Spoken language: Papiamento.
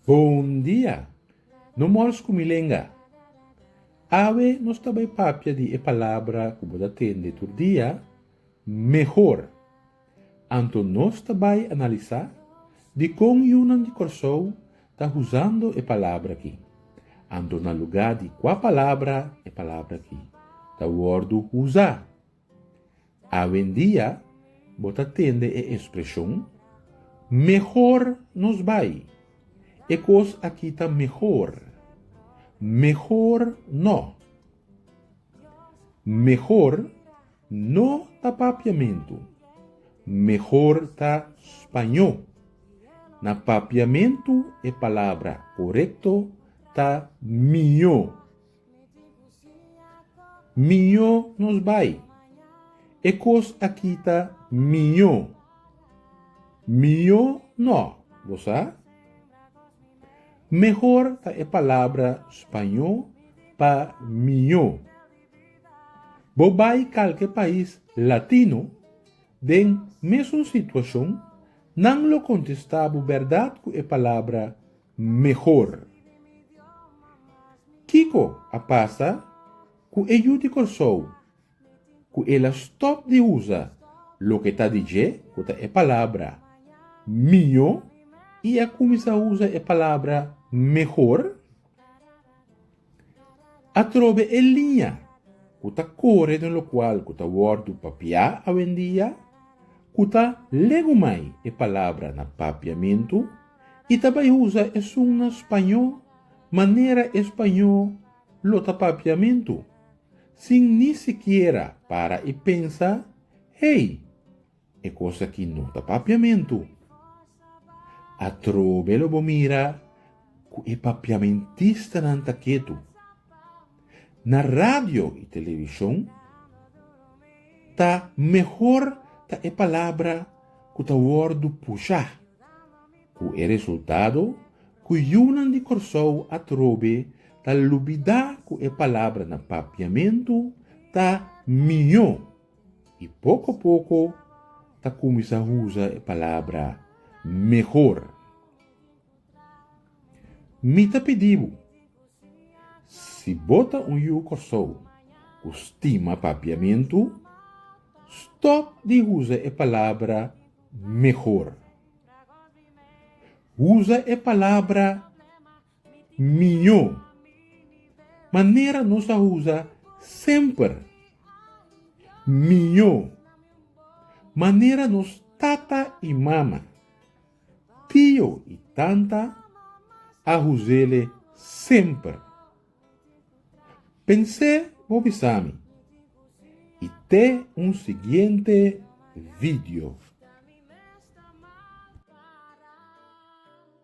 Bon dia! No mors ku mi lenga. Awe nos ta bai papia di e palabra ku bo ta tende tur dia, mehor. Anto nos ta bai analisá dikon yunan di Kòrsou ta husando e palabra akí. Anto na lugá di kua palabra e palabra akí ta wòrdu husá? Awendia bo ta tende e espreshon mehor nos bai, e kos akí ta mehor, mehor nò, mehor. No ta papiamentu. Mehor ta spañó. Na papiamentu e palabra korekto ta mió. Mió nos bai. E kos aki ta mió. Mió no, bo sa? Mehor ta e palabra spañó pa mió. Bo bai kalke pais latino den mesun situacion, nan lo contesta bo berdad cu e palabra mehor. Kico a pasa cu e yu di Corsou cu el a stop di usa loke ta di dje cu ta e palabra miyo y a cuminsa usa e palabra mehor? Atrobe e liña ku ta kore den lokual ku ta wòrdu papiá awendia, ku ta legumai e palabra na papiamentu i ta bai usa esun na spañó manera e spañó lo ta papiamentu, sin ni sikiera para i pensa, Hey! E cosa ki no ta papiamentu. Atrobe lo bo mira cu e papiamentistanan ta ketu. Na radio y television ta mehor ta e palabra cu ta wordu pusha, cu e resultado cu yunan di Corsou atrobe ta lubida cu e palabra na papiamentu ta mijo. I poko a poko ta kuminsá usa e palabra mehor. Mi ta pidi bo, si bo ta un yu Kòrsou ku stima Papiamentu, stòp di usa e palabra mehor. Usa e palabra. miñó. Manera nos a usa semper. Miñó. Manera nos tata i mama, tio i tanta a us'ele semper. Pens'é bo bisami i te un siguiente video.